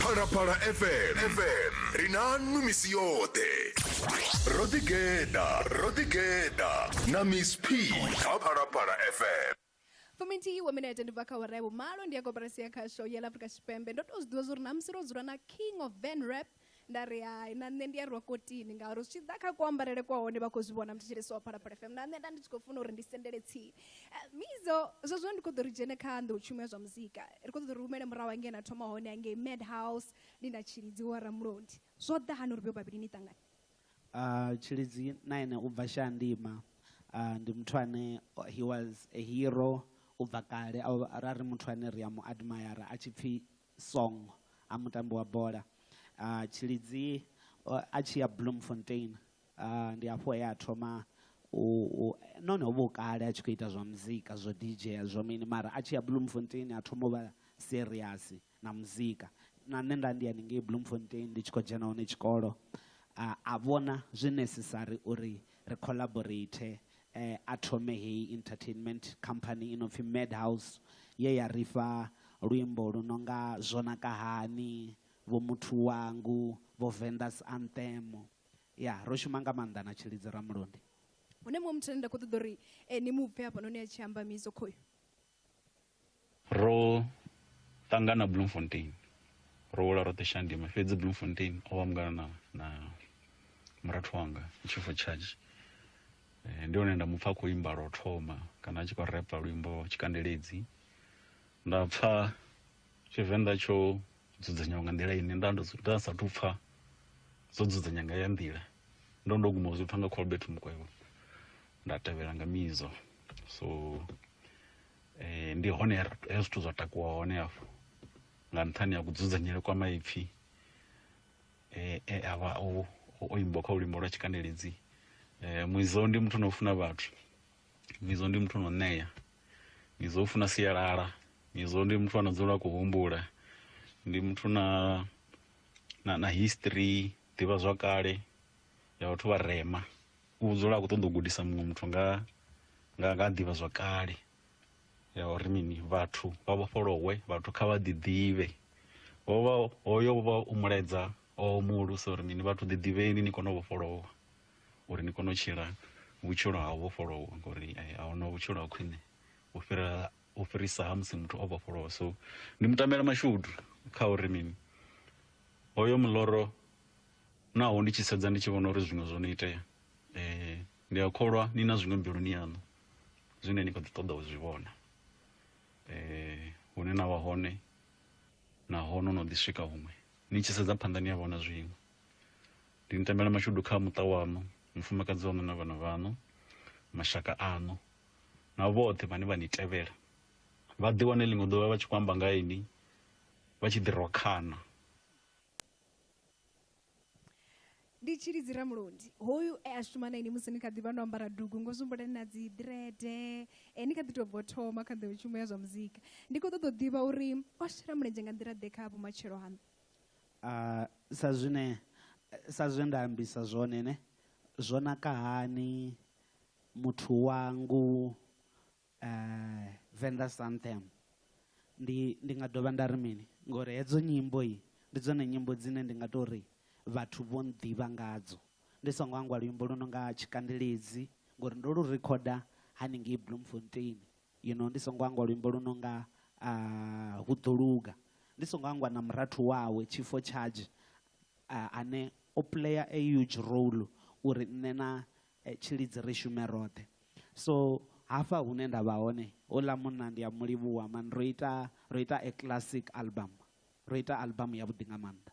phalaphala fm fm ri na nnu misi yoṱhe ro ḓigeḓa ro ḓigeḓa na miss p kha phalaphala fm fuminthihi wa minete ndi bva kha awara ya vhumalo ndi ya koporasi ya khasho ya ḽa afrika tshipembe ndo tou zwi ḓivha zwa uri namusi ro dzula na king of van rap nda ri hai na nṋe ndi a rwa kotini ngauri zwi tshi ḓa kha kuambarele kwa hone vha khou zwi vhona muthetshelesi wa phalaphala fm na nṋe nda ndi tshi khou funa uri ndi sendele tsini eh, mizo zwezwo ndi khou ḓo ri dzhene kha nḓo u tshumela zwa muzika ri khou ḓo ri humele murahu hangei na thoma hone hangei mad house ndi na tshilidzi wa ramulondi zwo ḓa hani uri vho vhavhili ni ṱangane uh, tshilidzi na ene u bva shandima uh, ndi muthu ane he was a hero u bva kale ra ri muthu ane ri a mu admayara a tshi pfhi Song a mutambi wa bola uh, Tshilidzi uh, a tshi ya Bloemfontein uh, ndi hafho he a thoma none ho vha u kale a tshi khou ita zwa muzika zwo dj zwo mini mara a tshi ya Bloemfontein a thoma u vha serious na muzika na nṋe nda ndi ya ningei Bloemfontein ndi tshi khou dzhena hone tshikolo a vhona zwi necessary uri ri collaborate eh, a thome heyi entertainment company i no pfi madhouse ye ya ri fha luimbo lu no nga zwo naka hani vho muthu wangu vho vendas anthem ya ro shuma nga maanḓa na tshilidzi ramulundi hune muṅwe muthu ane nda khou ṱoḓa uri eh, ni mu pfe hafhanoni a tshi amba miso khoyo ro ṱangana bloemfontein ro wela roṱhe shandima fhedzi bloemfontein o vha mungana na, na murathu wanga chief of charge eh, ndi hone nda mu pfa khou imba lwo thoma kana a tshi khou repa luimbo tshikandeledzi nda pfa tshivenḓa tsho dzudzanyiwa nga nḓila ine nda nda sathu pfha dzo dzudzanya nga ya nḓila ndo ndo guma zwi pfha nga Colbert Mukwevho nda tevhela nga mizo so eh ndi hone he zwithu zwa takuwa hone hafho nga nṱhani ha kudzudzanyele kwa maipfi eh e avha o o imba kha luimbo lwa tshikandeledzi eh muizo ndi muthu no funa vhathu mizo ndi muthu no ṋea mizo u funa sialala mizo ndi muthu ano dzula ku humbula ndi muthu na na, na history ḓivha zwa kale ya vhathu vha rema u dzula a khou ṱoḓa u gudisa muṅwe muthu nga nga nga ḓivha zwa kale ya uri mini vhathu vha vhofholowe vhathu kha vha ḓiḓivhe hovha hoyo vha u muledza o muulusa uri mini vhathu ḓiḓivheni ni kone u vhofholowa uri ni kone u tshila vhutshilo ha u vhofholowa ngori eh, a huna vhutshilo ha khwine u fhira u fhirisa ha musi muthu o vhofholowa so ndi mutamela mashudu kha uri mini hoyo muloro naho ndi tshi sedza ndi tshi vhona uri zwiṅwe zwo no itea um ndi a kholwa ni na zwiṅwe mbiluni yaṋu zwine ni kho ḓi ṱoḓa u zwi vhona um hune na vha hone naho no no ḓi swika huṅwe ni tshi sedza phanḓa ni a vhona zwiṅwe ndi ni tambela mashudu kha muṱa wanu mufumakadzi wanu na vhana vhanu mashaka anu na vhoṱhe vhane vha ni tevhela vha ḓi wane ḽiṅwe ḓuvha vha tshi khou amba nga ini vha tshi ḓi rokhana ndi tshilidzi ramulodi hoyu e a shuma na ini musi ni kha ḓi vha no ambara dugu ngo zwi na dzi ḓirede e ni kha ḓi tou bvo thoma kha ḓo tshumbo ya zwa muzika ndi khou ṱoḓa u ḓivha uri o shela mulenzhe nga nḓila ḓe kha vhumatshelo haṋu A, sa zwine, sa zwe nda ambisa zwone, ne, zwo naka hani muthu wangu a, Venda Santam. Ndi, ndi nga dovha nda ri mini? Ngauri hedzo nyimbo ndi dzone nyimbo dzine ndi nga tou ri vhathu vho nnḓivha ngadzo. Ndi songo hangwa luimbo lu no nga Tshikandeledzi, ngauri ndo lu rikhoda haningei Bloemfontein, You know, ndi songo hangwa luimbo lu no nga a hu ḓo luga ndi songo hangwa na murathu wawe tshifo charge ane o player a huge role uri nṋe na tshilidzi ri shume roṱhe so hafha hune nda vha hone houḽa munna ndi a mu livhuwa mani ro ita ro ita a classic album Ro ita albamu yavhuḓi nga maanḓa.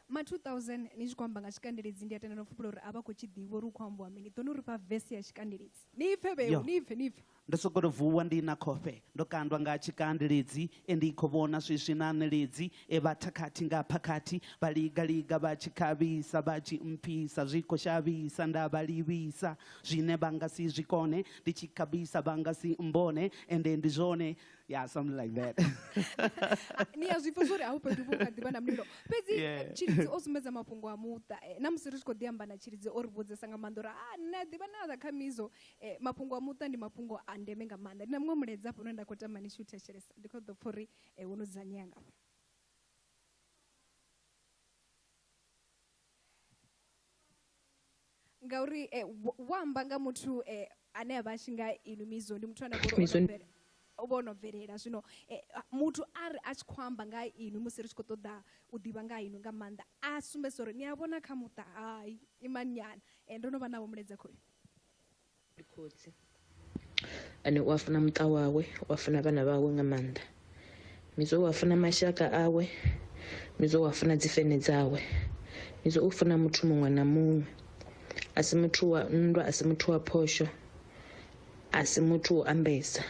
Ma 2000, ni tshi khou amba nga tshikandeledzi, ndi a tenda no fhupula uri a vha khou tshi ḓivha uri hu khou ambiwa mini. Ḓoni u ri fha vese ya tshikandeledzi. Ni i pfe vheu, ni i pfe, ni i pfe. Ndo sokou tou vuwa ndi na khofhe, ndo kandwa nga tshikandeledzi, e ndi khou vhona swiswi na ṋeledzi, e vha thakhathi nga phakhathi, vha liga-liga vha tshi khavhisa, vha tshi mpfisa zwi khou shavhisa, nda vha livhisa zwine vha nga si zwi kone, ndi tshi khabisa vha nga si mmbone, ende ndi zwone yeah something like that ni a zwi pfa zwori a u fhethu vhu kha ḓivha na mulilo fhedzi Yeah. eh, tshilidzi o sumbedza mafhungo a muṱa eh, na musi ri tshi khou ḓi amba na tshilidzi o ri vhudzesa nga maanḓa uri a nṋe a ḓivha na kha mizo eh, mafhungo a muṱa ndi mafhungo a ndeme nga maanḓa ndi na muṅwe mulaedza hafho une nda khou tama ni tshi u thetshelesa ndi khou ḓo pfa uri eh, wo no dzudzanyea ngafho ngauri eh, wo- wo amba nga muthu eh, ane a vha a tshi nga inu mizo ndi muthu ane a vha uri o no Mizo ndi- bvele- o vha o no bvelela zwino eh, a- muthu a ri a tshi khou amba nga ha inu musi ri tshi khou ṱoḓa u ḓivha nga ha inu nga maanḓa a sumbedzisa uri ni a vhona kha muṱa hai imani nyana Eh, ndo no vha navho muledzakhoyo ndi khotsi ane u a funa muṱa wawe u a funa vhana vhawe nga maanḓa midzo u a funa mashaka awe midzo u a funa dzifene dzawe midzo u funa muthu muṅwe na muṅwe a si muthu wa nndwa a si muthu wa phosho a si muthu wo ambesa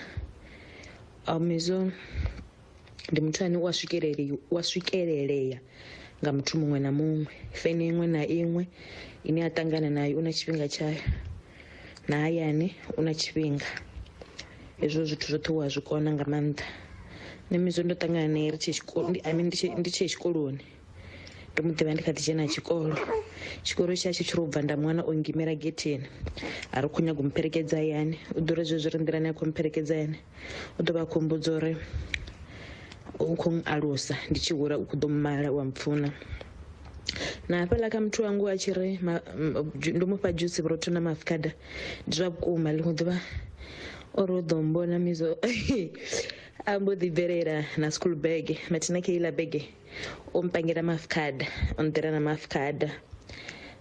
midzo ndi muthu ane u a swikelele u a swikelelea nga muthu muṅwe na muṅwe fene iṅwe na iṅwe ine a ṱangana nayo u na tshifhinga tshayo na hayani u na tshifhinga hezwo zwithu zwoṱhe u a zwi kona nga maanḓa nṋe mizo ndo ṱangana naye ri tshe tshikoloni i mean ndi tshe tshikoloni ndo mu ḓivha ndi kha ḓi dzhena tshikolo tshikolo tsha tshi tshiri u bva nda mwana o ngimela getheni a ri khou nyaga u mupherekedza hayani u ḓo uri zwe zwi ri nḓilani a khou mupherekedza hayani u ḓo vha a khou mbudza uri u khou alusa ndi tshi hula u khou ḓo mala wa mpfuna na hafhaḽa kha muthu wangu a tshi ri ndo mu fha dzhusi vhurotho na mafikada ndi zwa vhukuma ḽiṅwe ḓuvha o ri u ḓo mbona mizo a mbo ḓi bvelela na school bege mathina kha iḽa bege u mpangela maafukhada u nḓira na maafukhada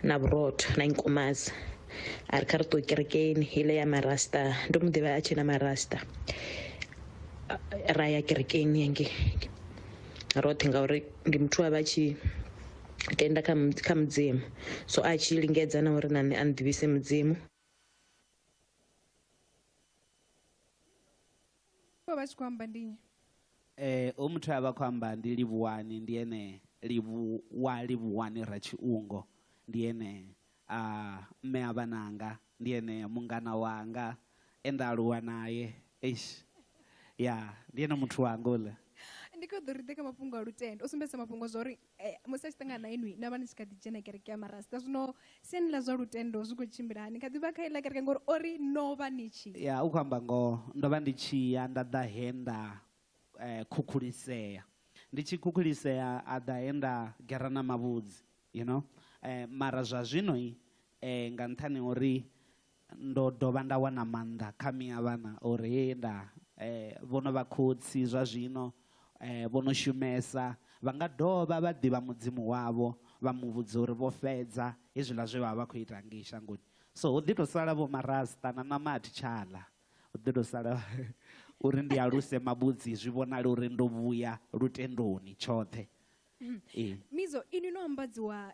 na vhurotho na nkumaza a ri kha ri ṱuwe kerekeni ile ya marasta ndo mu ḓivha a tshi na marasta ra ya kerekeni yange roṱhe ngauri ndi muthu a vha tshi tenda kha kha mudzimu so a tshi lingedza na uri na nṋe a nḓivhise mudzimu vha vha tshi khou amba ndi nnyi eh o muthu a vha khou amba ndi livhuwani ndi ene livhuwa livhuwani ra tshiungo ndi ene a mme a vhananga ndi ene mungana wanga e nda aluwa naye eish ya ndi ene muthu wanga uḽa ndi kho ḓo ri ḓe kha mafhungo a lutendo u sumbedzisa mafhungo zwa uri Eh, musi a tshi ṱangana na inwi na vha ni tshi kha ḓi dzhena kereke ya marasta zwino siani ḽa zwa lutendo zwi khou tshimbila hani kha ḓi vha kha iḽa kereke ngori o ri no vha ni tshi ya u khou amba ngoho ndo vha ndi tshi ya nda ḓa he nda eh, khukhulisea ndi tshi khukhulisea a ḓa he nda gera na mavhudzi you know eh, mara zwa zwino eh, nga nṱhani uri Ndo dovha nda wana maanḓa kha miavhana uri he nda vho no vha khotsi zwa zwino vho no shumesa vha nga dovha vha ḓivha Mudzimu wavho vha mu vhudza uri vho fhedza hezwiḽa zwe vha vha vha khou ita ngei shangoni. So ho ḓi tou sala vho marasta na ṋama a thi tsha ḽa, ho ḓi tou sala uri ndi aluse mavhudzi zwi vhonale uri ndo vhuya lutendoni tshoṱhe. Mizo, inwi no ambadziwa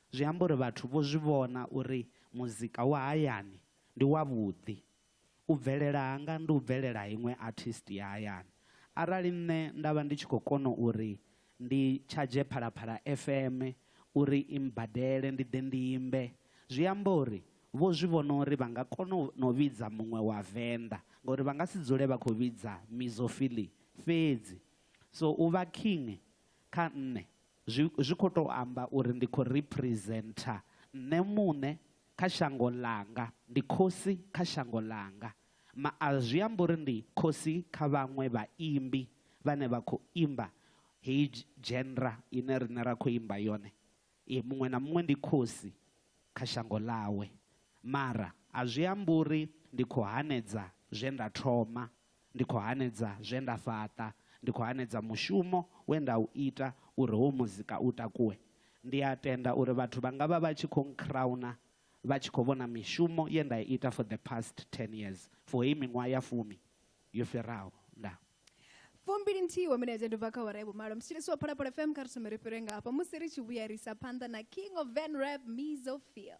Zwi amba uri vhathu vho zwi vhona uri muzika wa hayani ndi wavhuḓi. U bvelela hanga ndi u bvelela ha iṅwe artist ya hayani. Arali nṋe nda vha ndi tshi khou kona uri ndi tshadzhe Phalaphala FM uri i mbadele ndi ḓe ndi imbe, zwi amba uri vho zwi vhona uri vha nga kona no vhidza muṅwe wa Venḓa ngauri vha nga si dzule vha khou vhidza Mizophilly fhedzi. So u vha king kha nṋe Zwi, zwi khou tou amba uri ndi khou representer nṋe muṋe kha shango ḽanga, ndi khosi kha shango ḽanga. Ma, a zwi ambi uri ndi khosi kha vhaṅwe vhaimbi vhane vha khou imba heyi dzhenra ine riṋe ra khou imba yone. E, muṅwe na muṅwe ndi khosi kha shango ḽawe. Mara a zwi ambi uri ndi khou hanedza zwe nda thoma Ndi khou hanedza zwe nda fhaṱa, ndi khou hanedza mushumo we nda u ita uri howu muzika u takuwe. Ndi a tenda uri vhathu vha nga vha vha tshi khou nkhrauna vha tshi khou vhona mishumo ye nda i ita for the past ten years, for heyi miṅwaha ya fumi yo fhiraho. Ndaa. Fumbili nthihi wa milaedza ndi u bva kha awara ya vhumalo. Mthetshelesi wa Phalaphala FM, kha ri thome ri fhire nga hafha musi ri tshi vhuya ri isa phanḓa na King of Van Rap, Mizo Feel.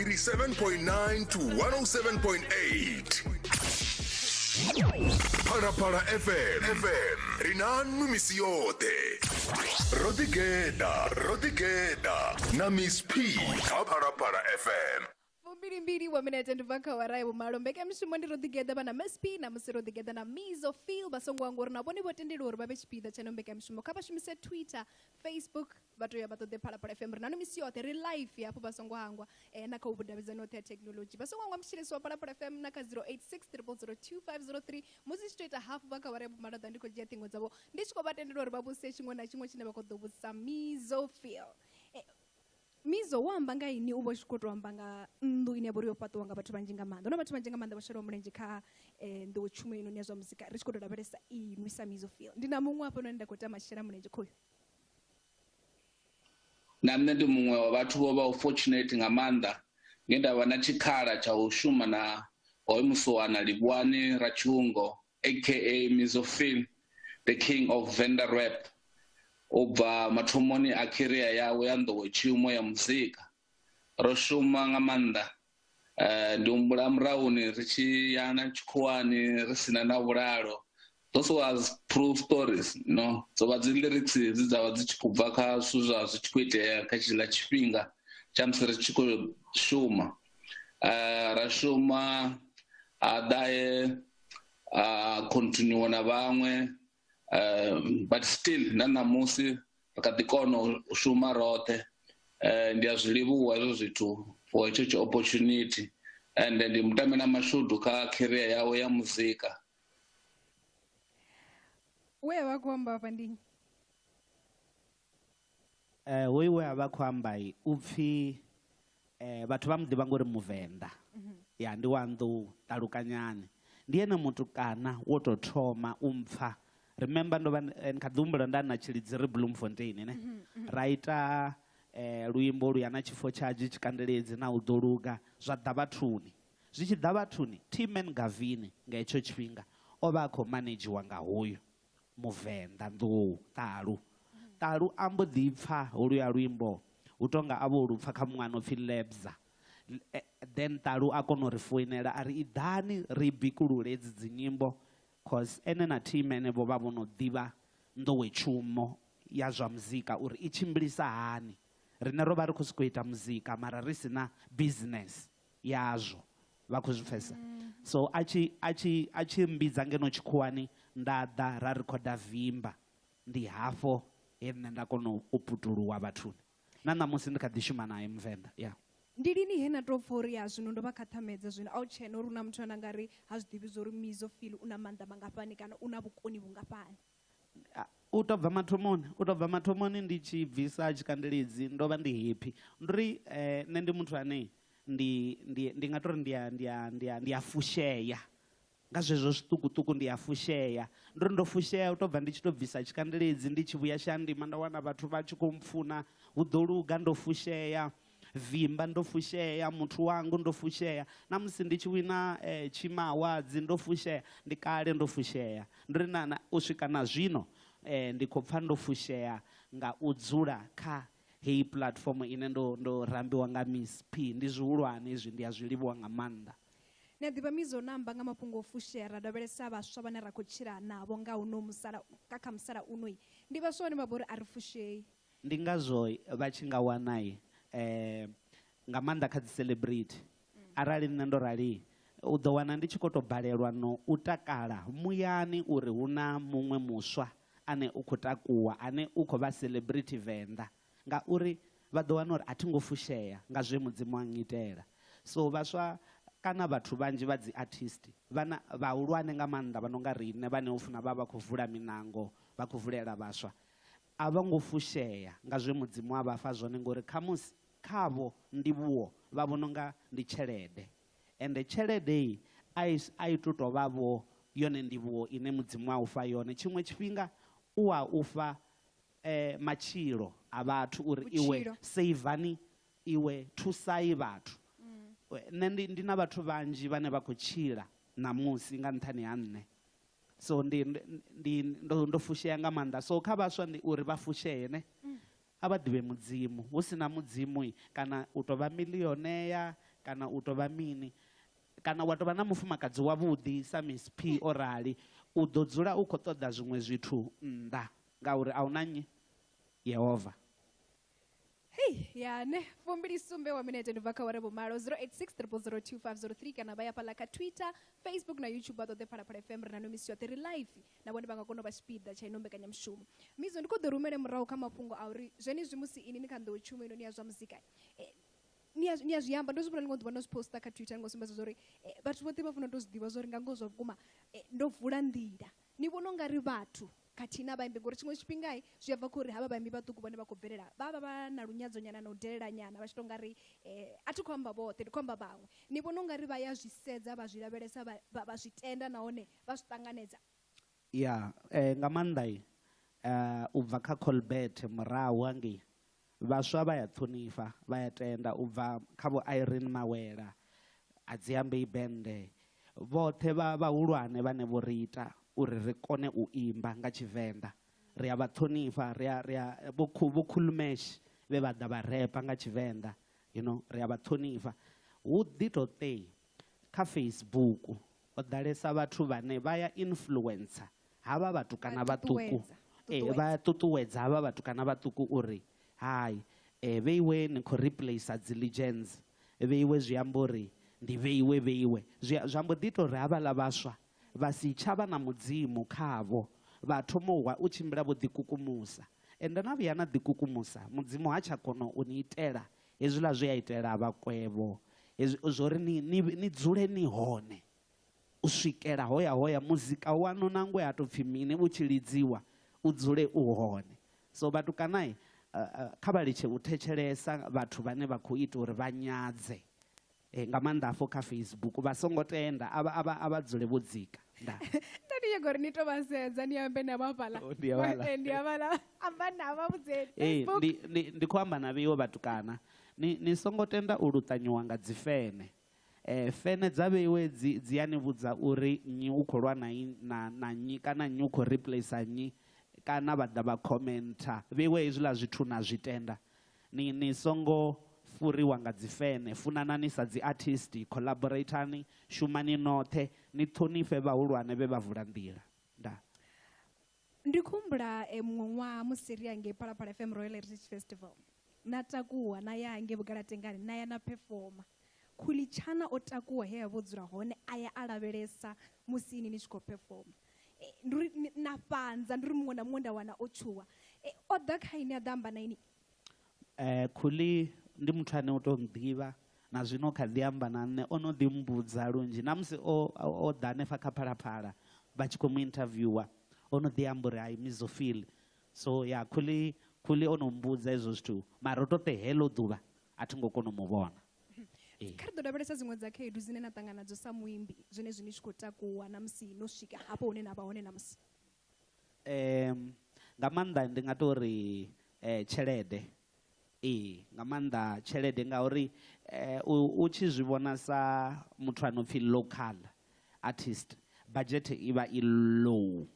87.9 to 107.8 phalaphala fm fm ri na nwi misi yoṱhe ro ḓigeḓa ro ḓigeḓa na miss p kha phalaphala fm fumbilimbili wa minete ndi bva kha wara ya vhumalo mbekanyamushumo ndi ro ḓigeḓa vha na msp na musi ro ḓigeḓa na mizo fil vha songo anga uri na vhone vho tendeliwa uri vha vhe tshipiḓa tsha no mbekanyamushumo kha vha shumise twitter facebook vha tea vha ṱoḓe phalaphala fm ri na no misi yoṱhe ri life hafho vha songo hangwa eh, na kha vhudavhidzani oṱhe ya thekhinolodzhi vha songo hangwa mutshilisi wa phalaphala fm na kha 0860002503 musi tshi to ita hafu vha kha vhare ya vhumalaḓa ndi khou dzhia ṱhingo dzavho ndi tshi khou vha tendela uri vha vhuse tshiṅwe na tshiṅwe tshine vha khou ḓo vhudzisa mizo feel eh, mizo wo amba nga ini u vha tshi khou tou amba nga nnḓu ine ya vha uri yo fhaṱiwa nga vhathu vhanzhi nga maanḓa huna vhathu vhanzhi nga maanḓa vha shelaho mulenzhe kha eh, nḓiwo tshumo inoni ya zwa muzika ri tshi khou tou lavhelesa inwi sa mizo feel ndi na muṅwe hafhanoni nda khou tama shela mulenzhe khoyo na nṋe ndi muṅwe wa vhathu vho vha fortunate nga maanḓa nge nda vha na tshikhala tsha u shuma na hoyo musuwana livhuwani ratshungo aka mizofil the king of vender rap u bva mathomoni a khiriya yawe ya nḓowetshumo ya muzika ro shuma nga maanḓa Eh, ndi humbula murahuni ri tshi ya na tshikhuwani ri sina na vhulalo those was true stories no dzo vha dzi lyrics dzi dza vha dzi tshi khou bva kha zwithu zwa zwi tshi khou itea kha tshiḽa tshifhinga tsha musi ri tshi khou shuma eh, ra shuma a ḓae a continue na vhaṅwe um but still na ṋamusi ri kha ḓi kona u shuma roṱhe um ndi a zwi livhuwa hezwo zwithu for hetsho tshi opportunity and ndi mutamela mashudu kha career yawe ya muzika we wa khou amba hafha ndi Hoyu we a vha a khou amba u pfi vhathu vha mu ḓivha ngori Muvenḓa, ya ndi wa nnḓu Ṱalukanyani. Ndi ene mutukana wo tou thoma u mpfha, remember ndo vha ndi kha ḓi humbula nda na Tshilidzi ri Bloemfontein ne, ra ita luimbo lu ya na tshifo tsha Adzhi Tshikandeledzi na u ḓo luga zwa ḓa vhathuni. Zwi tshi ḓa vhathuni Team Engavini nga hetsho tshifhinga o vha a khou manedzhiwa nga hoyu Muvenḓa nḓou, ṱalu. Ṱalu a mbo ḓi pfa holuya luimbo hu tou nga a vho lu pfa kha muṅwe a no pfhi Lebza. Then ṱalu a kona u ri foinela a ri iḓani ri bikulule hedzi dzi nyimbo cos ene na team henevho vha vho no ḓivha nḓowetshumo ya zwa muzika uri i tshimbilisa hani. Riṋe ro vha ri khou sokou ita muzika mara ri si na business. yazwo vha khou zwi pfesa so a tshi a tshi a tshi mbidza ngeno tshikhuwani nda ḓa ra rikhoda vimba ndi hafho he nṋe nda kona u putuluwa vhathuni na ṋamusi ndi kha ḓi shuma naye muvenḓa ya ndi lini he na to pfa uri ya zwino ndo vha khaṱhamedza zwino a u tshena uri u na muthu ane a nga ri ha zwi ḓivhi zwa uri mizo feel u na maanḓa mangafhani kana u na vhukoni vhungafhani u to bva mathomoni u to bva mathomoni ndi tshi bvisa tshikandeledzi ndo vha ndi happy ndo ri eh, nṋe ndi muthu ane ndi ndi ndi nga tori ndi a ndi a ndi a ndi a fushea nga zwezwo zwiṱukuṱuku ndi a fushea ndo ri ndo fushea u to bva ndi tshi to bvisa tshikandeledzi ndi tshi vhuya shandima nda wana vhathu vha tshi khou mpfuna hu ḓo luga ndo fushea vimba ndo fushea muthu wangu ndo fushea na musi ndi tshi wina eh, tshima awards ndo fushea ndi kale ndo fushea ndo ri na, na u swika na zwino eh, ndi khou pfa ndo fushea nga u dzula kha heyi platform ine ndo, ndo rambiwa nga miss p ndi zwihulwane izwi ndi a zwi livhuwa nga maanḓa ni a ḓivha mizo namba nga mafhungo o fushea ra lavhelesa vhaswa vhane ra khou tshila navho nga uno musala nga kha musalauno ndi vhaswa vhane vha vha uri a ri fushei Ndi ngazwo vha tshi nga wana nga maanḓa kha dzi celebrity arali nṋe ndo rali u ḓo wana ndi tshi kho to balelwa no u takala muyani uri hu na muṅwe muswa ane u kho takuwa ane u kho vha celebrity Venḓa ngauri vha ḓo wana uri a thi ngo fushea nga zwe mudzimu a ngitela so vhaswa kana vhathu vhanzhi vha dzi artist vhana vhahulwane nga maanḓa vha no nga riṋe vhane ho funa vha vha khou vula miṋango vha khou vulela vhaswa A vho ngo fushea nga zwe Mudzimu a vha fha zwone ngauri khamusi khavho ndivhuwo vha vhona u nga ndi tshelede. Ende tshelede i a i a i tu tou vha-vho yone ndivhuwo ine Mudzimu a u fha yone. Tshiṅwe tshifhinga u a u fha matshilo a vhathu uri iwe seivani iwe, thusai vhathu. Nṋe ndi ndi na vhathu vhanzhi vhane vha khou tshila ṋamusi nga nṱhani ha nṋe. so ndi ndi ndo ndo fushea nga maanḓa so kha vhaswa ndi uri vha fushee ne mm. a vha ḓivhe mudzimu hu si na mudzimu kana u tou vha miliyonea kana u tou vha mini kana wa tou vha na mufumakadzi wavhuḓi sa miss p o rali u ḓo dzula u khou ṱoḓa zwiṅwe zwithu nnḓa ngauri a hu na nnyi yehova hei ya ne fumbili sumbe wa minete ni bva kha ware vhumalo 0860025003 kana vha ya fhaḽa kha twitter facebook na youtube vha ṱoḓe phalaphala fm ri na no misi yoṱhe ri live na vhone vha nga kona u vha tshipiḓa tsha ino mbekanyamushumo mizo ndi khou ḓo rumele murahu kha mafhungo a uri zwenezwi musi ini ni kha nḓowo tshumo ino ni ya zwa muzika eh, ni a zwi amba ndo zwi vhona ḽiṅwe ḓuvha ndo zwi posta kha twitter ni ngo sumbedza zwa uri eh, vhathu vhoṱhe vha funa u tou zwi ḓivha zwa uri nga ngoho zwa vhukuma eh, ndo vula nḓila Ni vhona ungari vhathu khathihi na vhaimbi ngori tshiṅwe tshifhinga zwi a bva khori havha vhaimbi vhaṱuku vhane vha khou bvelela vha vha vha na lunyadzo nyana na u delela nyana vha tshi to nga ri a thi khou amba vhoṱhe ndi khou amba vhaṅwe ni vhona ungari vha ya zwi sedza vha zwi lavhelesa vha zwi tenda nahone vha zwi ṱanganedza ya nga maanḓa u bva kha Colbert murahu hangei Vhaswa vha ya ṱhonifha, vha ya tenda, u bva kha Vho Irene Mawela, Adziambei Bende, vhoṱhe vha vhahulwane vhane vho ri ita uri ri kone u imba nga Tshivenḓa. Ri a vha ṱhonifha, ri a, ri a, Vho Khu, Vho Khulu Mash vhe vha ḓa vha repa nga Tshivenḓa, you know, ri a vha ṱhonifha. Hu ḓi tou tei kha Facebook ho ḓalesa vhathu vhane vha ya influencer havha vhatukana vhaṱuku eh, vha ṱuṱuwedza havha vhatukana vhaṱuku uri hai eh, vheiwe ni khou replacer dzi legends vheiwe zwi amba uri ndi vheiwe vheiwe zwi ambo ḓi ita uri havhaḽa vhaswa vha si tsha vha na mudzimu khavho vha thoma u wa u tshimbila vho ḓikukumusa ende na vhuya na ḓikukumusa mudzimu ha tsha kona u ni itela hezwiḽa zwi a itela vhakwevho hezwi zwo ri ni dzule ni hone u swikela hoyahoya muzika waṋu nangwe ha tou pfhi mini u tshi lidziwa u dzule u hone. So vhatukana kha vha litshe u thetshelesa vhathu vhane vha khou ita uri vha nyadze nga maanḓa hafho kha Facebook, vha songo tenda, a vha dzule vho dzika. Ndaa. Nda ndi nyaga uri ni tou vha sedza ni ambe navho hafhaḽa. Ndi havhaḽa. Ee, ndi havhaḽa. Amba navho vha vhudze Ee, Facebook. ndi, ndi, ndi khou amba na vheiwe vhatukana. Ni, ni songo tenda u luṱanyiwa nga dzifene. Fene dza vheiwe dzi dzi ya ni vhudza uri nnyi u khou lwa na i na na nnyi kana nnyi u khou replacer nnyi kana vha ḓa vha khomenta vheiwe hezwiḽa zwithu na zwi tenda ni ni songo fhuriwa nga dzi fene funanani sa dzi artist collaboratani shumani noṱhe ni ṱhonifhe vhahulwane vhe vha vula nḓila ndaa. ndi khumbula e muṅwe ṅwaha musi ri yange phalaphala fm royal heritage festival na takuwa na ya hange vhugalatengani na ya na phefoma khulitshana o takuwa he ya vho dzula hone a ya a lavhelesa musi ini ni tshi khou phefoma e, ndi uri na fhanza ndi uri muṅwe na muṅwe nda wana o tshuwa e, o ḓa kha ini a ḓa amba na ini Khuli ndi muthu ane u tou ḓivha na zwino kha ḓi amba na nṋe, o no ḓi mmbudza lunzhi na musi o o ḓa hanefha kha Phalaphala vha tshi khou mu interviewer o no ḓi amba uri I miss u feel so ya Khuli Khuli o no mmbudza hezwo zwithu mara ro to ṱe heḽo ḓuvha a thi ngo kona u mu vhona. Kha ri ḓo lavhelesa dziṅwe dza khaedu dzine na ṱangana nadzo sa muimbi zwenezwi ni tshi khou takuwa na musi no swika hafho hune na vha hone ṋamusi. nga maanḓa ndi nga tou ri tshelede, ee nga maanḓa tshelede ngauri u tshi zwi vhona sa muthu a no pfhi local artist budget i vha i low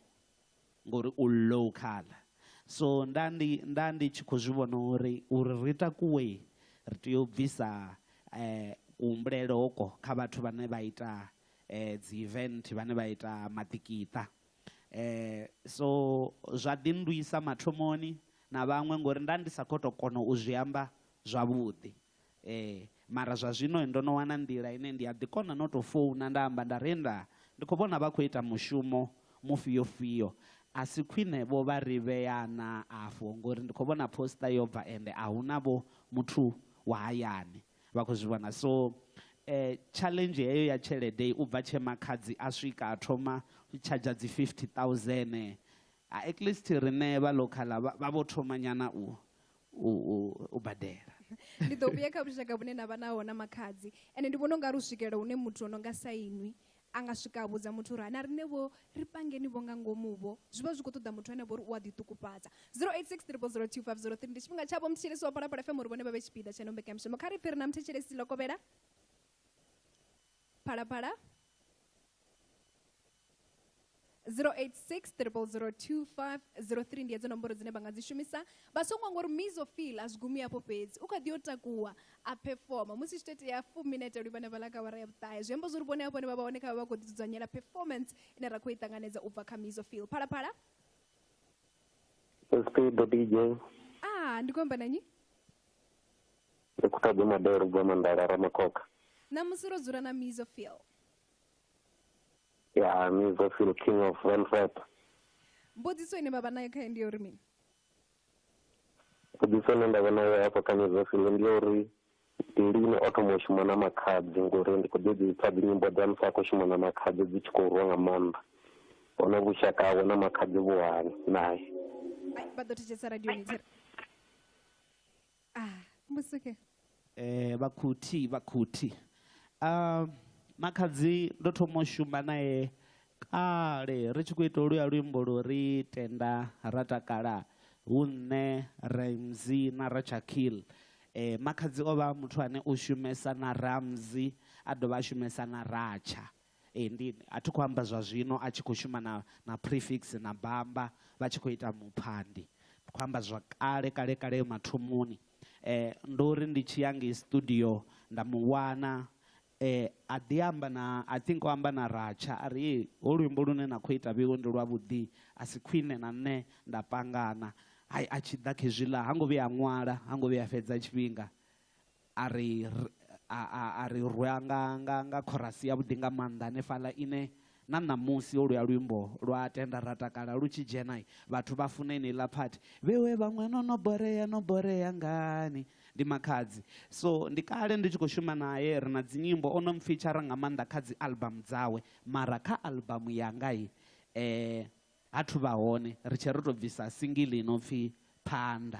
ngori u local. So nda ndi nda ndi tshi khou zwi vhona uri uri ri takuwe ri tea u bvisa kuhumbulele hoko kha vhathu vhane vha ita dzi event, vhane vha ita maḓikiṱa. So zwa ḓi nndwisa mathomoni na vhaṅwe ngori nda ndi sa khou tou kona u zwi amba zwavhuḓi. Mara zwa zwino ndo no wana nḓila ine ndi a ḓi kona no tou founa nda amba nda ri nda ndi khou vhona vha khou ita mushumo mufhio fhio, a si khwine vho vha ri vhea naa afho ngori ndi khou vhona poster yo bva ende a hu na vho muthu wa hayani. Vha khou zwi vhona. So tshaḽenzhi heyo ya tshelede, u bva tshe makhadzi a swika a thoma u tshadzha dzi fifty thousand, at least riṋe vha ḽokhaḽa vha vho thoma nyana u u badela. Ndi ḓo vhuya kha vhushaka vhune na vha naho na makhadzi, ende ndi vhona u nga ri u swikelela hune muthu o no nga sa inwi A nga swika a vhudza muthu uri ha na riṋe vho ri pangeni vho nga ngomu vho. Zwi vha zwi khou ṱoḓa muthu ane vho ri u a ḓiṱukufhadza. 0863002503 Ndi tshifhinga tshavho muthetshelesi wa Phalaphala FM uri vhone vha vhe tshipiḓa tsha ino mbekanyamushumo. Kha ri pfe ri na muthetshelesi ḽo kovhela. Phalaphala. 086 002503 ndi edzo nomboro dzine vha nga dzi shumisa vha songo ngori misofil a zwi gumi afho fhedzi u kha ḓi yo takuwa a performa musi tshi tea fu minete lwi vhane vha ḽa kawara ya vhuṱahe zwi amba zwori vhone hafho ne vha vha hone kha vha khou ḓi dzudzanyela performance ine ra khou i ṱanganedza u bva kha misofil phalaphala speedo dj ah ndi khou amba na nyi ndi khou ṱoḓa madelo u bva mandala ramakhokha ṋamusi ro dzula na misofil ya mizofil king of velvet mbudziso ine vha vha nayo khae ndi ya uri mini mbudziso ine nda vha nayo hafho kha mizofil ndi ya uri ndi lini o thoma u shuma na makhadzi ngori ndi khou ḓi dzi pfha dzinyimbo dza musi a khou shuma na makhadzi dzi tshi khou rwa nga maanḓa hone vhushaka hawe na makhadzi vhuhani naye Ai, vha ḓo thetshelesa radioni tshere Ah, musuke. Eh, vhakhuthi, vhakhuthi. Uh, makhadzi ndo thoma u shuma naye kale ri tshi khou ita luya luimbo lu ri tenda ra takala hu nṋe ramzi na rachakil eh, makhadzi o vha muthu ane u shumesa na ramzi a dovha a shumesa na ratsha Ee, ndi, a thi khou amba zwa zwino a tshi khou shuma na, na Prefix na Bamba vha tshi khou ita muphandi. Ndi khou amba zwa kale, kale, kale mathomoni. Eh, ndo ri ndi tshi ya ngei studio nda mu wana eh, a ḓi amba na, I think o amba na Ratsha, a ri, Ee, ho luimbo lune na khou ita Vhiwe ndi lwavhuḓi, a si khwine na nṋe nda pangana. Hai, a tshi ḓa khezwiḽa, ha ngo vhuya a ṅwala, ha ngo vhuya a fhedza tshifhinga. a ri a, a, a ri rwa nga, nga, nga khorasi yavhuḓi nga maanḓa hanefhaḽa ine na ṋamusi ho luya luimbo lwa tenda ra takala lu tshi dzhena vhathu vha funa eneiḽa phathi vhewe vhaṅwe no no borea no borea ngani ndi makhadzi so ndi kale ndi tshi khou shuma naye ri na dzinyimbo o no mpfitshara nga maanḓa kha dzi album dzawe mara kha album yanga i eh, ha thu vha hone ri tshe ri tou bvisa singili ino pfhi phanḓa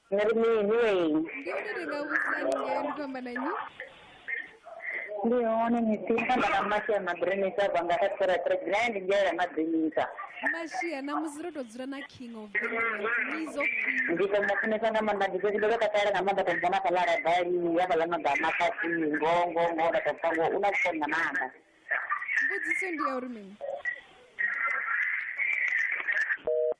nga ri mini wei ndi hone ri nga vhudzani ngei ndi khou amba na nnyi ndi hone misinda nda na mashia madrinisa bva nga kha tsiratre dzine ndi ngelela madrinisa mashia namusi ro tou dzula na king of nizo ndi to mu funesa nga maanḓa ndi fhedzi ndo vha takalela nga maanḓa to mubona fhaḽa radali ya fhaḽa magama fhasi ngo ngo ngo nda to pfa ngo u na vhukoni nga maanḓa mbudziso ndi ya uri mini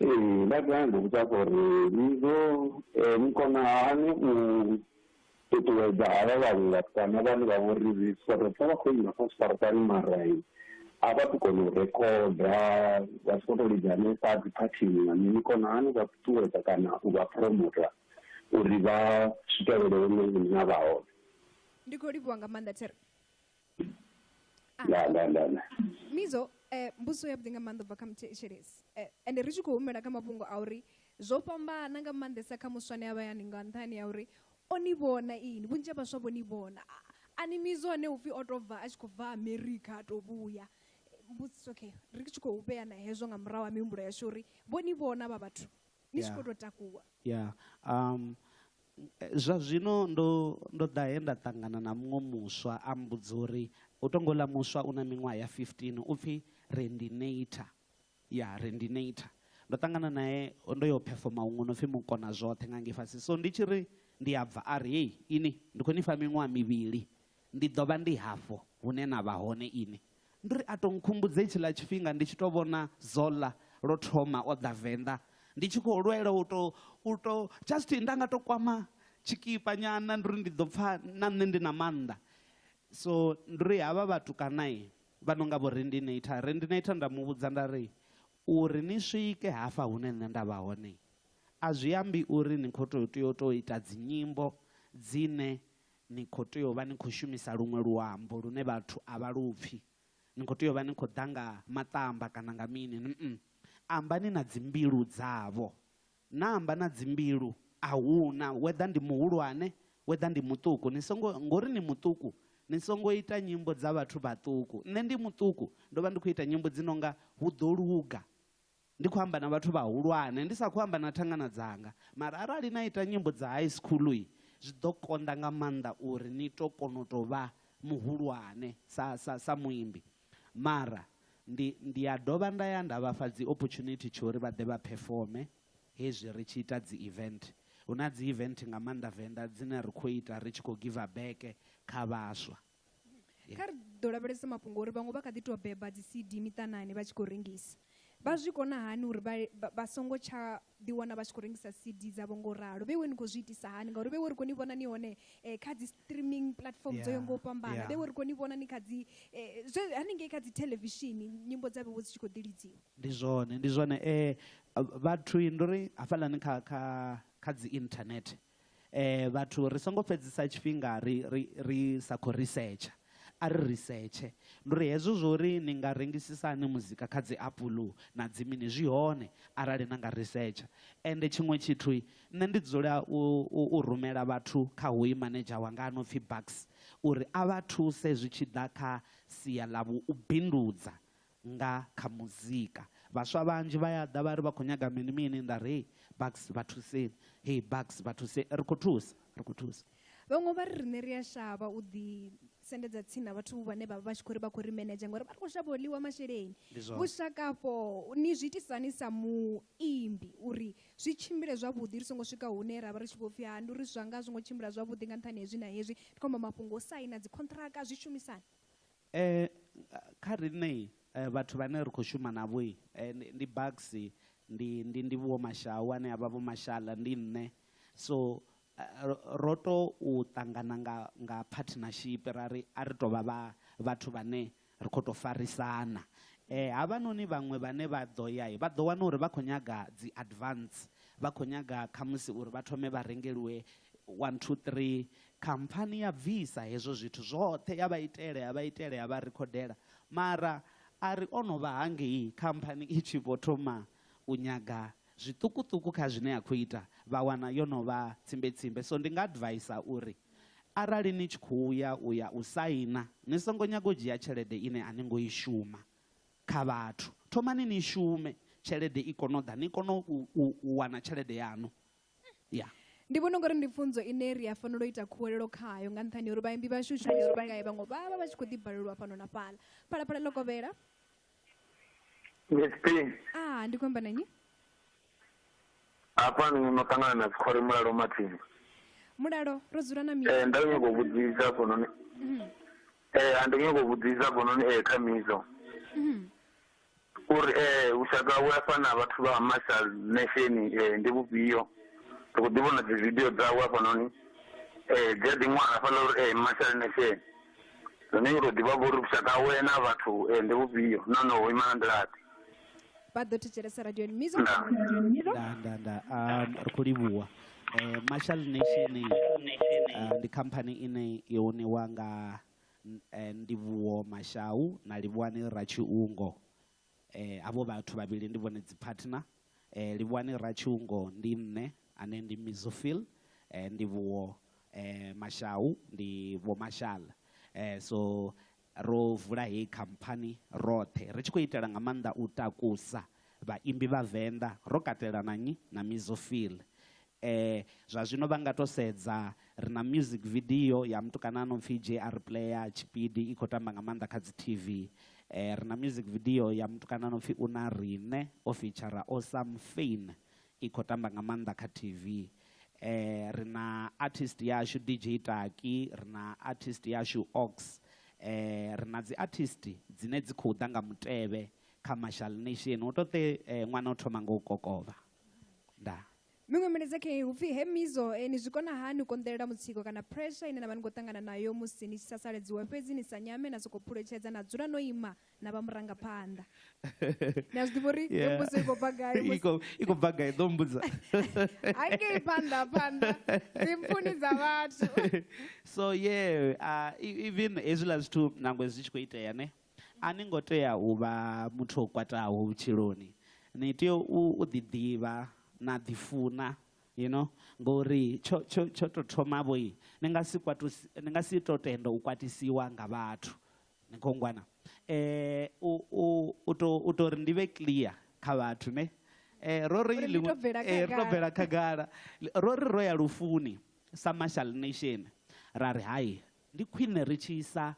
Ee, vha ḓo a mmbudza vho ri, Ni ḓo ni kona hani u ṱuṱuwedza havha vhaṅwe vhatukana vhane vha vho ri so ri pfha vha khou imba kha zwiṱaraṱani mara a vha tu kona u rekhoda vha si khou tou lidza hanefha dzi phathini nga mini, ni kona hani u vha ṱuṱuwedza kana u vha phuromota uri vha swikelele hune nṋe na vha hone? Ndi khou livhuwa nga maanḓa Thero. nda nda nda nda mizo eh, mbuso ya vhuḓi nga maanḓa ubva kha muthetshelesi eh, ende ri tshi khou humela kha mafhungo a uri zwo fhambana nga maanḓesa kha muswane a vhayani nga nṱhani ya uri o ni vhona ini vhunzhi ha vhaswa vho ni vhona A- ani mizo ane upfhi o to bva a tshi khou bva america a to vhuya Eh, mbusi okay ri tshi khou vhea na hezwo nga murahu ha mihumbulo yashu uri vho ni vhona vha vhathu ni tshi khou tou takuwa ya um zwa zwino ndo ndo ḓa he nda ṱangana na muṅwe muswa a mbudza uri u tongo ḽa muswa u na miṅwaha ya 15 u pfhi rendinator ya rendinator ndo ṱangana naye ndo yo phefoma huṅwe no pfhi mukona zwoṱhe nga ngei fhasi so ndi tshi ri ndi a bva a ri hei ini ndi khou ni fha miṅwaha mivhili ndi ḓo vha ndi hafho hune na vha hone ini Ndi uri a tou nkhumbudza hetshiḽa tshifhinga ndi tshi tou vhona Zola lwo thoma o ḓa Venḓa ndi tshi khou lwela u tou, u tou just nda nga tou kwama tshikipa nyana ndi uri ndi ḓo pfha na nṋe ndi na maanḓa. So ndi uri havha vhatukana vha no nga vho Rendinator, Rendinator nda mu vhudza nda ri uri ni swike hafha hune nṋe nda vha hone a zwi ambi uri ni khou tou tea u tou ita dzi nyimbo dzine Ni khou tea u vha ni khou shumisa luṅwe luambo lune vhathu a vha lu pfi. Ni khou tea u vha ni khou ḓa nga maṱamba kana nga mini. Nn. Ambani na dzimbilu dzavho. Na amba na dzimbilu, a hu na, whether ndi muhulwane, whether ndi muṱuku. Ni songo, ngauri ni muṱuku, ni songo ita nyimbo dza vhathu vhaṱuku. Nṋe ndi muṱuku, ndo vha ndi khou ita nyimbo dzi no nga Hu Ḓo Luga, Ndi khou amba na vhathu vhahulwane, ndi sa khou amba na thangana dzanga. Mara arali na ita nyimbo dza high school, zwi ḓo konḓa nga maanḓa uri ni tou kona u tou vha muhulwane sa, sa, sa muimbi. Mara ndi, ndi a dovha nda ya nda vha fha dzi opportunity tsha uri vha ḓe vha phefome hezwi ri tshi ita dzi event. Hu na dzi event nga maanḓa Venḓa dzine ri khou ita ri tshi khou giva beke kha vhaswa. kha ri ḓo lavhelesa mafhungo uri vhaṅwe vha kha ḓi tou beba dzi cd miṱanani vha tshi khou rengisa vha zwi kona hani uri vha songo tsha ḓiwana vha tshi khou rengisa cd dzavho ngo ralo vhe we ni khou zwi itisa hani ngauri vhe we ri khou ni vhona ni hone eh, kha dzi streaming platform dzo yo ngo fhambana vhe we ri khou ni vhona ni kha dzi eh, haningei kha dzi thelevishini nyimbo dza vhewo dzi tshi khou ḓi lidziwa ndi zwone ndi zwone um vhathu ndo ri hafhaḽani kha kha kha dzi internet vhathu ri songo fhedzisa tshifhinga ri ri ri sa khou risetsha a ri risetshe ndi uri hezwo zwo ri ni nga rengisisa hani muzika kha dzi apuḽu na dzi mini zwi hone arali na nga risetsha ende tshiṅwe tshithu nṋe ndi dzula u, u, u rumela vhathu kha hoyu manedzha wanga a no pfhi bucks uri a vha thuse zwi tshi ḓa kha sia ḽa vhu u bindudza nga kha muzika. Vhaswa vhanzhi vha ya ḓa vha ri vha khou nyaga mini mini nda ri hei Bucks vha thuseni, hei Bucks vha thuseni, ri khou thusa, ri khou thusa. Vhaṅwe vha ri riṋe ri a shavha u ḓi sendedza tsini na vhathu vhane vha vha vha tshi khou ri vha khou ri menedzha ngori vha ri khou shavha u ḽiwa masheleni. Ndi zwone. Vhushaka afho ni zwi itisa hani sa muimbi uri zwi tshimbile zwavhuḓi ri songo swika hune ra vha ri tshi vho pfhi ha ndi uri zwanga a zwi ngo tshimbila zwavhuḓi nga nṱhani ha hezwi na hezwi ndi khou amba mafhungo o saina dzi khonṱhiraka zwishumisani Kha riṋe vhathu vhane ri khou shuma navho ndi Bucks ndi ndi ndi Vho Mashau ane avha Vho Mashala ndi nṋe so ro to ṱangana nga nga partnership ra ri a ri tovha vha vhathu vhane ri kho to farisana. Havhanoni vhaṅwe vhane vha ḓo ya vha ḓo wana uri vha khou nyaga dzi advance vha kho nyaga khamusi uri vha thome vha rengeliwe one two three Khamphani ya bvisa hezwo zwithu zwoṱhe ya vha itela, ya vha itela, ya vha rikhodela. Mara a ri o no vha hangei khamphani i tshi vho thoma u nyaga zwiṱukuṱuku kha zwine ya khou ita, vha wana yo no vha tsimbetsimbe. So ndi nga advaisa uri arali ni tshi khou ya u ya u saina, ni songo nyaga u dzhia tshelede ine a ni ngo i shuma kha vhathu. Thomani ni shume tshelede i kone u ḓa, ni kone u wana tshelede yaṋu. ya ndi vhona ungari ndi pfunzo ine ri a fanela u ita khuwelelo khayo nga nṱhani uri vhaimbi vhashu shumisifhingae vhaṅwe vha vha vha tshi khou ḓibalelwa fhano na fhala phalaphala ḽo kovhela a ndi khou amba na nnyi hafha ni no ṱangana na dzikhole mulalo mathini mulalo ro dzula na miso eh, nda nyoko vhudzisa hafhanoni mhm. eh, a ndi nyoko vhudzisa hafhanoni eh, kha miso mhm. U ri, Ee, vhushaka hawe hafha na vhathu vha Marshall Nation ndi vhufhio? Ri khou ḓi vhona dzividio dzawe hafhanoni, dzi a ḓi ṅwala hafhaḽa uri, Ee, Marshall Nation. Zwino u tou ḓi vha vho uri vhushaka hawe na vhathu ndi vhufhio nahone ho ima nga nḓila-ḓe. Vha ḓo thetshelesa radioni Mizo Ndaa. Ndaa. Mizo. Ndaa, ndaa, ndaa. Um, ri khou livhuwa. Eh, Marshall Nation ah, ndi khamphani ine yo ṋewa nga eh, Ndivhuwo Mashau na Livhuwani Ratshiungo eh, havho vhathu vhavhili ndi vhone dzi partner eh, Livhuwani Ratshiungo ndi nṋe ane ndi Mizofil eh, Ndivhuwo eh, Mashau ndi Vho Mashal eh, so ro vula heyi khamphani roṱhe ri tshi khou itela nga maanḓa u takusa Vhaimbi vha Venḓa, ro katela na nnyi? Na Mizo Phil. E, zwa zwino vha nga tou sedza, ri na music video ya mutukana a no pfi JR Player, tshipidi, i khou tamba nga maanḓa kha dzi TV. E, ri na music video ya mutukana a no pfi Una Riṋe, o feature-a Osam Fyn, i khou tamba nga maanḓa kha TV. E, ri na artist yashu DJ Taki, ri na artist yashu Ox. E, ri na dzi artist dzine dzi khou ḓa nga mutevhe, commercial nation u to te eh, ṅwana o thoma ngo kokovha nda miṅwe milaedza khe hupfi he mizo eh, ni zwi kona hani u konḓelela mutsiko kana pressure ine na vha ni khou ṱangana nayo musi ni tshi sasaledziwa fhedzi ni sa nyame na sokou phuletshedza na dzula no ima na vha murangaphanḓa ni a zwi ḓivha uri yeah. mbudzo i khou bva gai i khou bva gai ḓo mbudza hangei phanḓa phanḓa dzimpfuni dza vhathu so yeah uh, even hezwiḽa zwithu nangwe zwi tshi khou itea ne A ni ngo tea u vha muthu o kwataho vhutshiloni. Ni tea u u ḓiḓivha na ḓifuna you know ngori tsho tsho tsho to thoma vho ni nga si kwatu ni nga si to tenda u kwatisiwa nga vhathu ni kho ngwana u u u to u to ri ndi vhe clear kha vhathu ne ro ri ri to bvela khagala ro ri ro ya lufuni sa marshal nation ra ri hai Ndi khwine ri tshi isa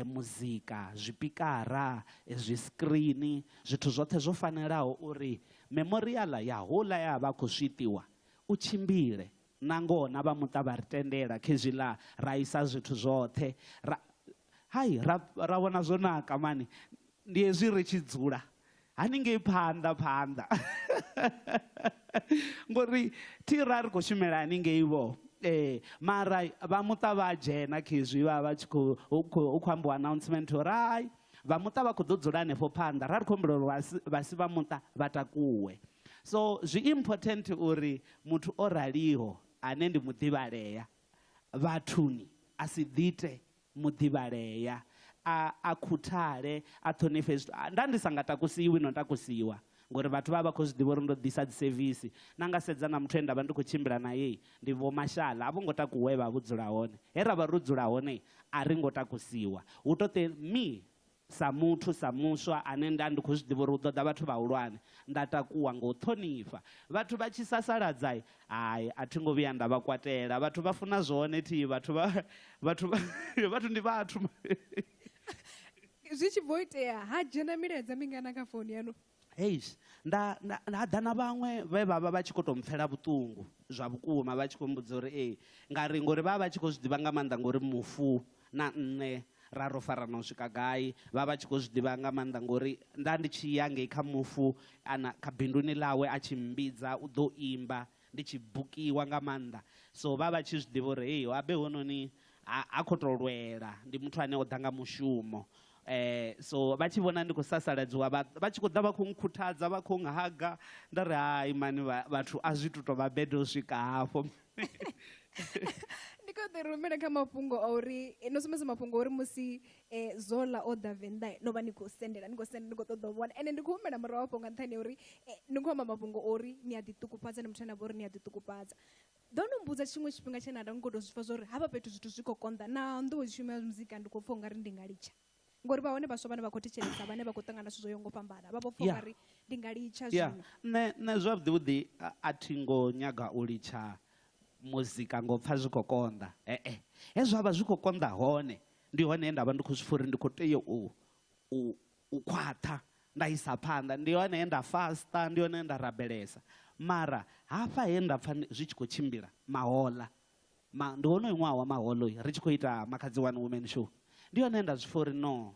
muzika, zwipikara, zwiskirini, zwithu zwoṱhe zwo fanelaho uri memoriaḽa ya houḽa e a vha a khou swiṱiwa u tshimbile. Nangoho na vha muṱa vha ri tendela khezwiḽa ra isa zwithu zwoṱhe ra, hai, ra vhona zwo naka mani. Ndi hezwi ri tshi dzula haningei phanḓa phanḓa ngori thi ra ri khou shumela haningei vho ee mara vha muṱa vha a dzhena khezwi vha vha tshi khou hu khou ambiwa announcement uri hai vha muṱa vha khou ḓo dzula hanefho phanḓa ra ri khou humbula uri vha si vha muṱa vha takuwe so zwi important uri muthu o raliho ane ndi muḓivhalea vhathuni a si ḓite muḓivhalea, a, a khuthale, a ṱhonifhe zwithu. A, nda ndi sa nga takusiwi no takusiwa, ngori vhathu vha vha vha khou zwi ḓivha uri ndo ḓisa dzisevisi. Na nga sedza na muthu e nda vha ndi khou tshimbila nae, ndi Vho Mashala, a vho ngo takuwa he vha vha vho dzula hone. He ra vha ro dzula hone, a ri ngo takusiwa. Hu tou te, Mi, Sa muthu, sa muswa ane nda ndi khou zwi ḓivha uri hu ḓo ḓa vhathu vhahulwane, nda takuwa nga u ṱhonifha. Vhathu vha tshi sasaladza, hai, a thi ngo vhuya nda vha kwatela. Vhathu vha funa zwone thi, vhathu vha, vhathu vha, vhathu ndi vhathu. Zwi tshi bva u itea, ha dzhena milaedza mingana kha founu yaṋu? Eish nda nda nda ḓa na vhaṅwe vhe vha vha vha tshi khou tou mpfela vhuṱungu zwa vhukuma vha tshi khou mbudza uri ee nga ri ngori vha vha tshi khou zwi ḓivha nga maanḓa ngori mufu na nṋe ra ro farana u swika gai vha vha tshi khou zwi ḓivha nga maanḓa ngori nda ndi tshi ya ngei kha mufu ana kha binduni ḽawe a tshi mmbidza u ḓo imba ndi tshi bukiwa nga maanḓa so vha vha tshi zwi ḓivha uri heyi habe hononi ha, ha khou tou lwela ndi muthu ane o ḓa nga mushumo So vha tshi vhona ndi khou sasaladziwa vha vha tshi khou ḓa vha khou nkhuthadza vha khou nghaga nda ri hai mani vhathu a zwi tu to vha bad u swika hafho. Ndi khou ḓi rumela kha mafhungo a uri no sumbedza mafhungo uri musi Zola o ḓa Venḓa no vha ni khou sendela ni khou sendela ni khou ṱoḓa u vhona ende ndi khou humela murahu hafho nga nṱhani ha uri ni khou amba mafhungo ori ni a ḓi ṱukufhadza ni muthu ane avha uri ni a ḓi ṱukufhadza. Ḓo no mbudza tshiṅwe tshifhinga tshe na nda ni khou tou zwi pfa zwa uri hafha fhethu zwithu zwi khou konḓa na nḓuwe tshumelo ya muzika ndi khou pfa ungari ndi nga litsha ngori vha hone vhaswa vhane vha khou thetshelesa vhane vha khou ṱangana zwithu zwo yaho ngo fhambana vha vho pfa Yeah. ungari ndi nga litsha Yeah. zwino Nṋe nṋe zwavhuḓi vhuḓi a- a thi ngo nyaga u litsha muzika ngo pfa zwi khou konḓa. Ee. He zwa vha zwi khou konḓa hone ndi hone he nda vha ndi khou zwi pfa uri ndi khou tea u u u khwaṱha nda isa phanḓa ndi hone he nda fasta ndi hone nda rabelesa mara hafha he nda pfha zwi tshi khou tshimbila mahola ma, ndi wonoyo ṅwaha wa maholo ri tshi khou ita makhadzi one woman show ndi hone nda zwi pfha uri no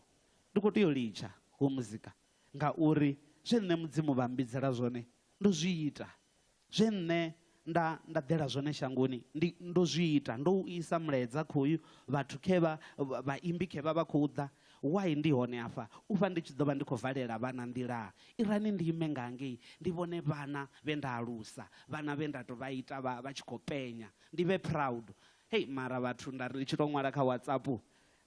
ndi khou tea u litsha ho muzika ngauri zwe nṋe mudzimu vha mbidzela zwone ndo zwi ita Zwe nṋe nda nda ḓela zwone shangoni ndi ndo zwi ita, ndo u isa mulaedza khoyu vhathu khe vha vhaimbi khe vha vha khou ḓa, why ndi hone afha u vha ndi tshi ḓo vha ndi khou valela vhana nḓilaa? Irani ndi ime nga ngei ndi vhone vhana vhe nda alusa, vhana vhe nda tou vha ita vha vha tshi khou penya, ndi vhe proud. Hei mara vhathu nda ri ndi tshi tou ṅwala kha WhatsApp,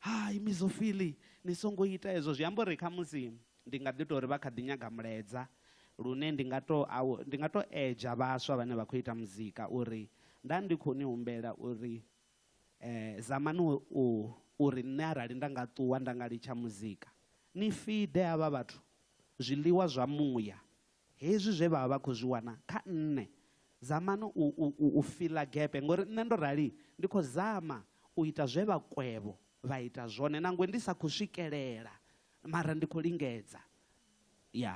Hai Mizophili ni songo ita hezwo, zwi amba uri khamusi ndi nga ḓi tou ri vha kha ḓi nyaga mulaedza. lune ndi nga to ndi nga to edza vhaswa vhane vha khou ita muzika uri nda ndi khou ni humbela uri eh zamani u uri nṋe arali nda nga ṱuwa nda nga litsha muzika ni fide havha vhathu zwiḽiwa zwa muya hezwi zwe vha vha vha khou zwi wana kha nṋe zamani u, u, u, u fila gepe ngori nṋe ndo rali ndi khou zama u ita zwe vha kwevho vha ita zwone nangwe ndi sa khou swikelela mara ndi khou lingedza ya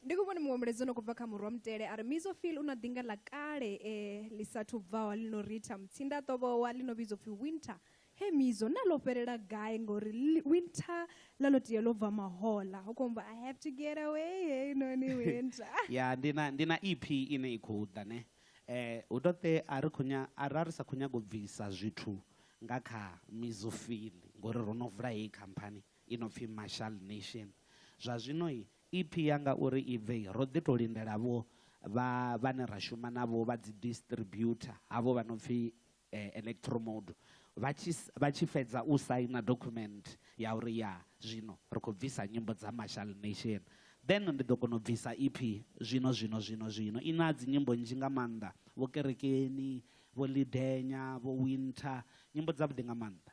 ndi kho vhona muṅwe mulaedza ono khou bva kha murwa mutele a ri mizofil u na ḓinga ḽa kale e ḽi sathu bvaho ḽi no ritha mutsinda a ṱovhowa ḽi no vhidzwa pfhi winter he mizo na ḽo fhelela gai ngori li- winter ḽa ḽo tea ḽo bva mahola ho khombo i have to get away hey noni winter ya ndi na ndi na ep ine i khou ḓa ne eh hu to te a ri khou nya- a ra ri sa khou nyaga u bvisa zwithu nga kha mizofili ngori ro no vula heyi khamphani i no pfi Marshall Nation. Zwa zwino EP ya nga uri i bve ro ḓi tou lindela vho vha vhane ra shuma navho vha dzi distributor havho vha no pfi Electromode vha tshi vha tshi fhedza u saina document ya uri ya zwino ri khou bvisa nyimbo dza Marshall Nation then ndi ḓo kona u bvisa EP zwino zwino zwino zwino i na dzi nyimbo nnzhi nga maanḓa vho kerekeni vho lidenya vho winter nyimbo dza vhuḓi nga maanḓa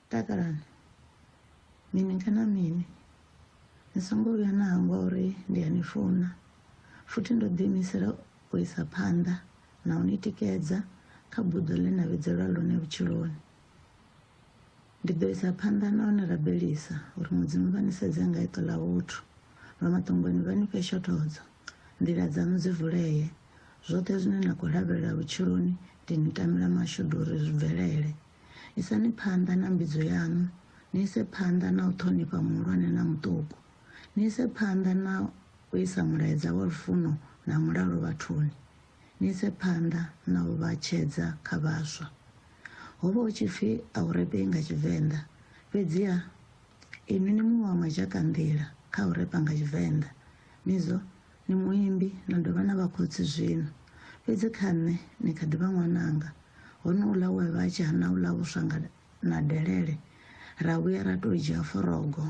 takalani mini kana mini ni songo vhuya na hangwa uri ndi a ni funa futhi ndo ḓiimisela u isa phanḓa na u ni tikedza kha buḓo ḽe na vhidzelwa ḽone vhutshiloni ndi ḓo isa phanḓa na u ni rabelisa uri mudzimu vha ni sedze nga iṱo ḽa vhuthu lwa maṱongoni vha ni fhe shothodzo nḓila dzaṋu dzi vulee zwoṱhe zwine na khou lavhelela vhutshiloni ndi ni tamela mashudu uri zwi bvelele Isani phanḓa na mbidzo yaṋu, ni ise phanḓa na u ṱhonifha muhulwane na muṱuku, ni ise phanḓa na u isa mulaedza wa lufuno na mulalo vhathuni, ni ise phanḓa na u vha tshedza kha vhaswa. Ho vha hu tshi pfi a u repei nga Tshivenḓa, fhedziha inwi ni muṅwe wa madzhakanḓila kha u repa nga Tshivenḓa. Mizwo Ni muimbi na dovha na vha khotsi zwino, fhedzi kha nṋe ni kha ḓi vha ṅwananga, honouḽa we a vha a tshi hana u ḽa vhuswa nga na delele, ra vhuya ra tou dzhia forogo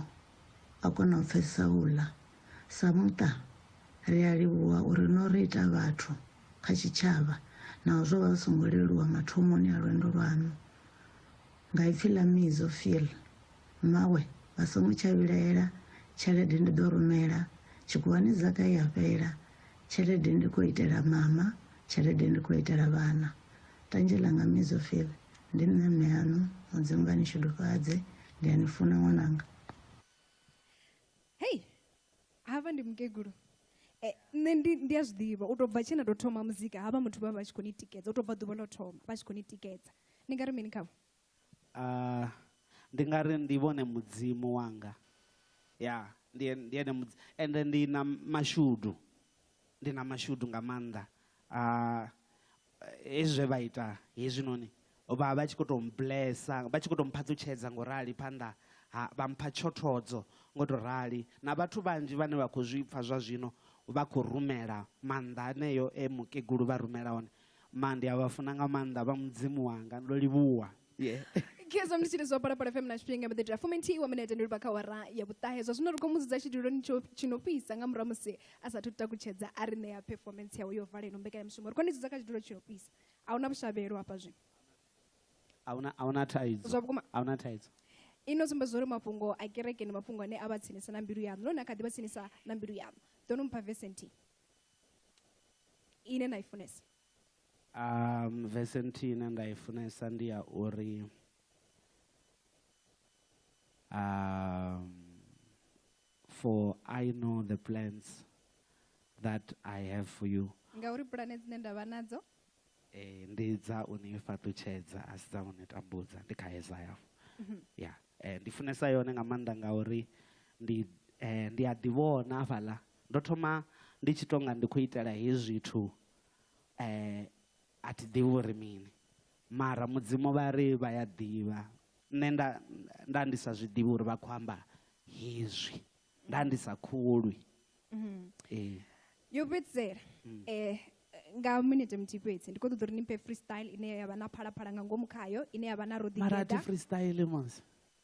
a kona u pfesesa u ḽa. Sa muṱa, ri a livhuwa uri no ri ita vhathu kha tshitshavha naho zwo vha zwi songo leluwa mathomoni a lwendo lwaṋu. Nga ipfi ḽa Mizo Phil, Mmawe vha songo tsha vhilaela tshelede ndi ḓo rumela, tshikhuwani zaka i a fhela, tshelede ndi khou itela mama, tshelede ndi khou itela vhana. Tanzhe ḽanga Mizo Phil, ndi nṋe mme aṋu, Mudzimu vha ni shudufhadze, ndi a ni funa ṅwananga. hafha ndi mukegulu eh, nṋe ndi ndi a zwi ḓivha u tou bva tshena tou thoma muzika havha muthu vha vha tshi khou ni tikedza u tou bva ḓuvha ḽo thoma vha tshi khou ni tikedza ni nga ri mini khavho uh, ndi nga ri ndi vhone mudzimu wanga ya ndi ndi ene mudzi ende ndi na mashudu ndi na mashudu nga maanḓa uh, hezwi zwe vha ita hezwinoni vha vha tshi khou tou mblesa vha tshi khou tou mphaṱutshedza ngo rali phanḓa ha vha mpha tshothodzo ngo tou rali na vhathu vhanzhi vhane vha khou zwi pfa zwa zwino vha khou rumela maanḓa aneyo e mukegulu vha rumela one ma ndi a vha funa nga maanḓa vha mudzimu wanga ndo livhuwa yeah khezwa ndi tshiri zwa parapara fm na tshifhinga mbaḓi tira fumi nthihi wa minete ndi livha kha wara ya vhuṱahe zwa zwino ri khou mudzudza tshiduloni tshi no fhisa nga murahu musi a sathu takutshedza a ri ṋea performance yawe yo vala ino mbekanyamushumo ri khou ni dzudza kha tshidulo tshi no fhisa a huna vhushavhelo hafha zwino a huna thaidzo zwa vhukuma a huna thaidzo ino sumbedza uri mafhungo a kereke ndi mafhungo ane a vha tsinisa na mbilu yaṋu none a kha ḓi vha tsinisa na mbilu yaṋu ḓo no mpha vesenti ine na i funesa Vese nthihi ine nda i funesa ndi ya uri for I know the plans that I have for you. Ngauri pulane dzine nda vha nadzo. Eh ndi dza u ni fhaṱutshedza a si dza u ni tambudza ndi kha Isaya. Mhm. Ya. Eh ndi funesa yone nga maanḓa ngauri ndi eh ndi a ḓivhona hafhaḽa ndo thoma ndi tshi tonga ndi khou itela hezwi zwithu eh, a thi ḓivhi uri mini mara mudzimu vha ri vha ya ḓivha nṋe nda nda ndi sa zwi ḓivhi uri vha khou amba hezwi nda ndi sa khulwi mm-hmm. ee yo fhedzisela um nga minete muthihi fhedzi ndi khou ṱoḓa uri ni mphe freestyle ine ya vha na phalaphala nga ngomu khayo ine ya vha na roḓigedamarati freestyle mos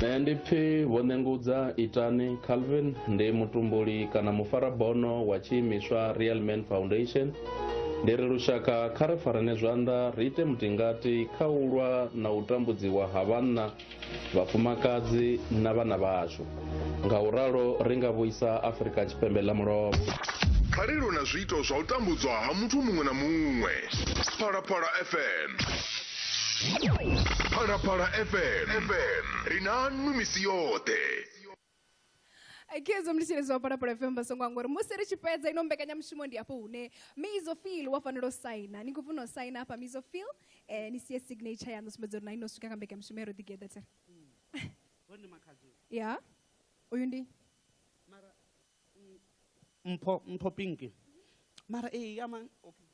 nṋe ndi pfi vho nengudza itani calvin ndi mutumbuli kana mufarabono wa tshiimiswa real man foundation ndi ri lushaka kha ri farane zwanḓa ri ite mutingati kha u lwa na u tambudziwa ha vhanna vhafumakadzi na vhana vhashu nga u ralo ri nga vhuisa afurika tshipembe ḽa mulovha kha ri lwe na zwiito zwa u tambudzwa ha muthu muṅwe na muṅwe phalaphala fm phalaphala fm ri na nnu misi yoṱhe Okay, zwo mlitshele zwa fara para FM basongo ngori musi ri tshi fhedza ino mbekanyamushumo ndi afho hune Mizo Feel wa fanela u saina. Ni khou funa u saina hafha Mizo Feel eh ni sie signature yaṋu sumbedza uri na ino swika kha mbekanyamushumo ya ro ḓi geḓa tsere. Hone makhadzi. Ya. Uyu ndi Mara mpho mpho pinki. Mara eh ama okay.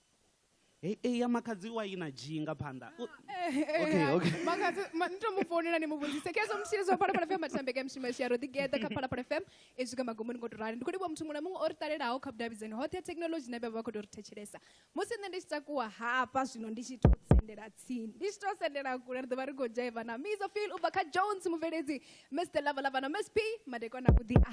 Hey, hey, ya makhadzi wa ina dzhi nga phanḓa. U- Okay, okay. makadzi ma- ni to mu founela ni mu vhudzise khezwo mutshili zwa phalaphala fm matambeke a mishima shia ro ḓigeḓa kha phalaphala fm i swika magomoni ngo to rali ndi khou livhuwa muthu muṅwe na muṅwe o ri talelaho kha vhudavhidzani hoṱhe ha thekhinolodzhi na vhe vha vha khou tou ri thetshelesa musi nṋe ndi tshi takuwa hafha zwino ndi tshi to sendela tsini ndi tshi to sendela kule ri ḓo vha ri khou dzhaiva na mizo fil u bva kha jones mubveledzi mr lava lava na msp madekwana vhuḓi a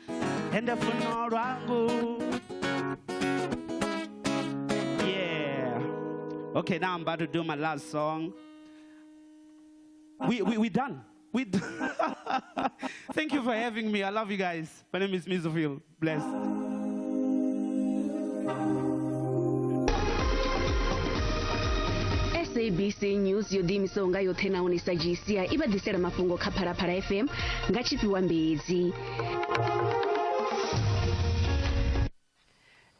ende funo lwangu yeah okay now i'm about to do my last song we, we, we done we d- thank you for having me i love you guys my name is mizofil bless sabc news yo ḓiimisaho nga yoṱhe nahone sa gci i vha ḓisela mafhungo kha phalaphala fm nga tshifhiwa mbedzi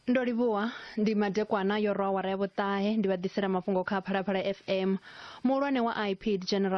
ndo livhuwa ndi madekwana yo rwa wara ya vhuṱahe ndi vha ḓisela mafhungo kha phalaphala fm muhulwane wa ipd general